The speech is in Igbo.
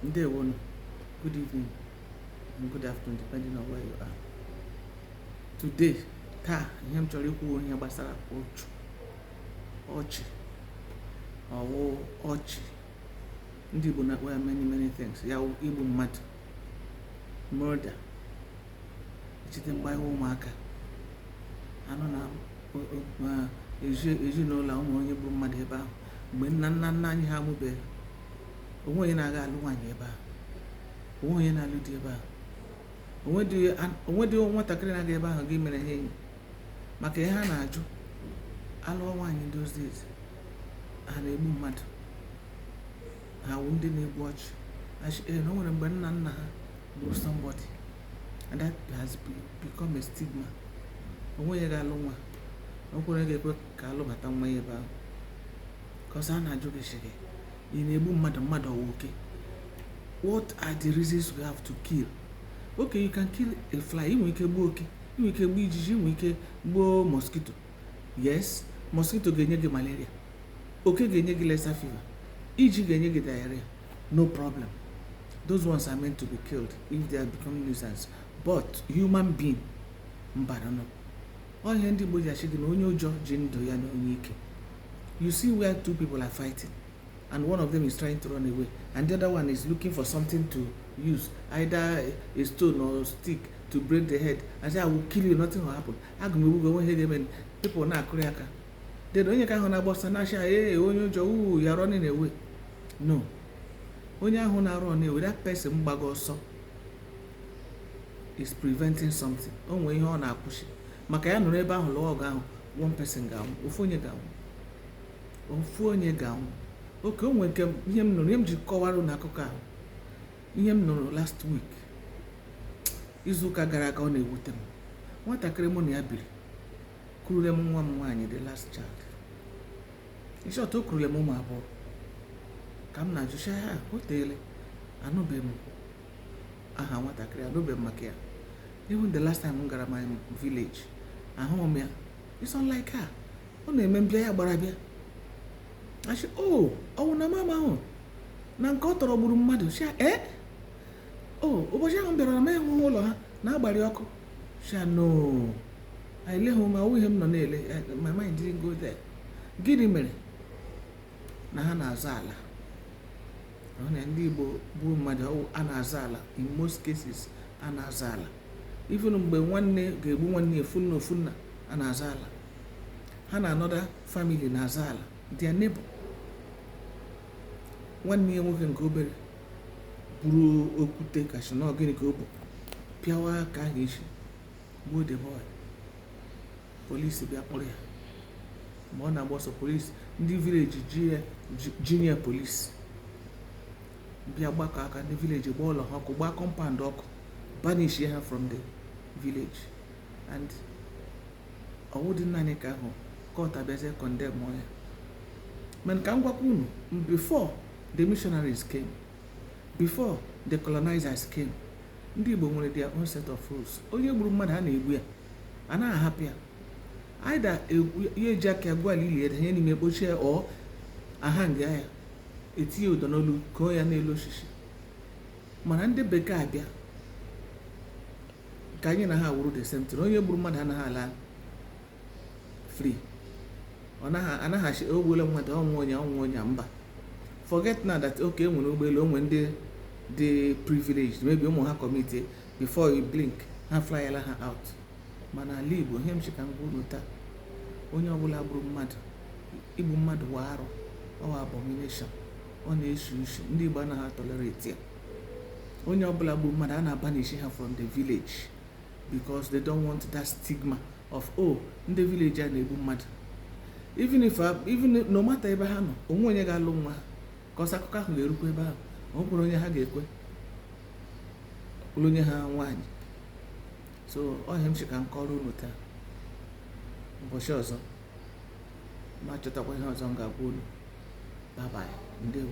ndewonu good evening and good afternoon depending on where you are today taa ihe m chọrọ ikwu wụ ihe gbasara ọchụ ọchị ọ wụ ọchị ndị Igbo na-akpọ ya many many things ya igbu mmadụ murder echete mgbe anyị wụ ụmụaka a nụ na ezinụlọ o nwe onye gburu mmadụ ebe ahụ mgbe nna nna nna anyị ha amụbeghị o nwee onye na-aga alụ nwaanyị ebe ahụ o nwee onye na-alụ di ebe ahụ o nwedị nwatakịrị na-aga ebe ahụ gaa imere ha enyi maka ihe a na-ajụ alụọ nwaanyị those days ha na-egbu mmadụ ha wụ ndị na-egbu ọchụ eh, na o nwere mgbe nna nna ha gburu somebody and that has become a stigma o nwee onye ga-alụ nwa o nwee onye ga-ekwe ka a lụbata nwa ya ebe ahụ because a na-ajụ gị shị gị ị na-egbu mmadụ mmadụ ọ wụ oke what are the reasons we have to kill okay you can kill a fly i nwe ike gbuo oke i nwe ike gbuo ijiji i nwe ike gbuo mosquito yes mosquito ga-enye gị malaria oke ga-enye gị lassa fever ijiji ga-enye gị diarrhea no problem those ones are meant to be killed if they are becoming nuisance but human being mba nụ ọ wụ ihe ndị Igbo ji ashị gị na onye ụjọ ji ndụ ya na onye ike you see where two people are fighting and one of them is trying to run away and the other one is looking for something to use either a stone or a stick to break the head and say i will kill you nothing will happen aga m egbu gị o nwee ihe ga-eme people na-akụrị aka then onye nke ahụ na-agba ọsọ a na-ashị ya ee onye ụjọ uu you are running away no onye ahụ na-run away that person gbaga ọsọ is preventing something o nwee ihe ọ na-akwụsị maka ya nọrọ ebe ahụ lụọ ọgụ ahụ one person ga-anwụ ofu onye ga-anwụ ofu onye ga-anwụ okay o nwere nke ihe m nụrụ ihe m ji kọwara unu akụkọ a wụ ihe m nụrụ last week izuụka gara aga ọ na-ewute m nwatakịrị mụ na ya biri kurule m nwa m nwaanyị the last child in short o kurule m ụmụ abụọ ka m na-ajụ shị ah o teele anụbeghị m aha nwatakịrị a anụbeghị m maka ya even the last time m gara my village ahụghị m ya it's unlike her ọ na-eme m bịa ya gbara bịa a shị o oh, ọ wụ na m amaghị na nke ọ tọrọ gburu mmadụ shị ya e eh? o oh, ụbọchị ahụ m bịara na m eleghị ụlọ ha na a gbara ya ọkụ shị ya no eleghị m ya ọ wụghị ihe m nọ na-ele eh, my mind didn't go there gịnị mere na ha na-azọ ala na ndị Igbo gbuo mmadụ a na-azọ ala in most cases a na-azọ ala even mgbe nwanne ga-egbu nwanne ofu nne ofu nna a na-azọ ala ha na another family na-azọ ala their neighbor nwanne ya nwoke nke obere buru okwute ka sị na ọ gịnị ka ọ bụ pịawaa nke ahụ isi gbuo the boy police bịa kpụrụ ya mgbe ọ na-agba ọsọ police ndị village joinia police bịa gbakọ aka ndị village gbaa ụlọ ha ọkụ gbaa compound ọkụ banish ha from the village and ọ wụdị naanị nke ahụ court abịazie condemn ya mana ka m gwakwa unu before the missionaries came before the colonizers came ndị Igbo nwere their own set of rules onye gburu mmadụ a na-egbu ya anaghị ahapụ ya either ya eji aka ya gwuo ili danye n'ime kpochie or a hang ya etinye ụdọ n'olu kwụọ ya n'elu osisi mana ndị bekee abịa ka anyị na ha wụrụ the same thing onye gburu mmadụ anaghị ala free ọ naghị anaghị asị o gbuola mmadụ ọ wụ onye ọ wụ onye a, mba forget now that okay enwere ụgbọelu o nwe ndị dị privileged maybe ụmụ ha commit before you blink ha flyela ha out mana ala igbo ihe m sị ka m gwa unu taa onye ọbụla gburu mmadụ igbu mmadụ wụ arụ ọ wụ abomination ọ na-esi isi ndị igbo anaghị tolerate ya onye ọbụla gburu mmadụ a na-abanish ha from the village because they don't want that stigma of oh ndị village a na-egbu mmadụ even if uh, even no matter ebe ha nọ o nweghị onye ga-alụ nwa ha cos akụkọ ahụ ga-erukwa ebe ahụ ọ bụrụ onye ha ga-ekwe lụnye ha nwaanyị so ọ ihe m sị ka m kọrọ unu taa ụbọchị ọzọ m achọtakwa ihe ọzọ m ga-agwa unu bye bye ndewo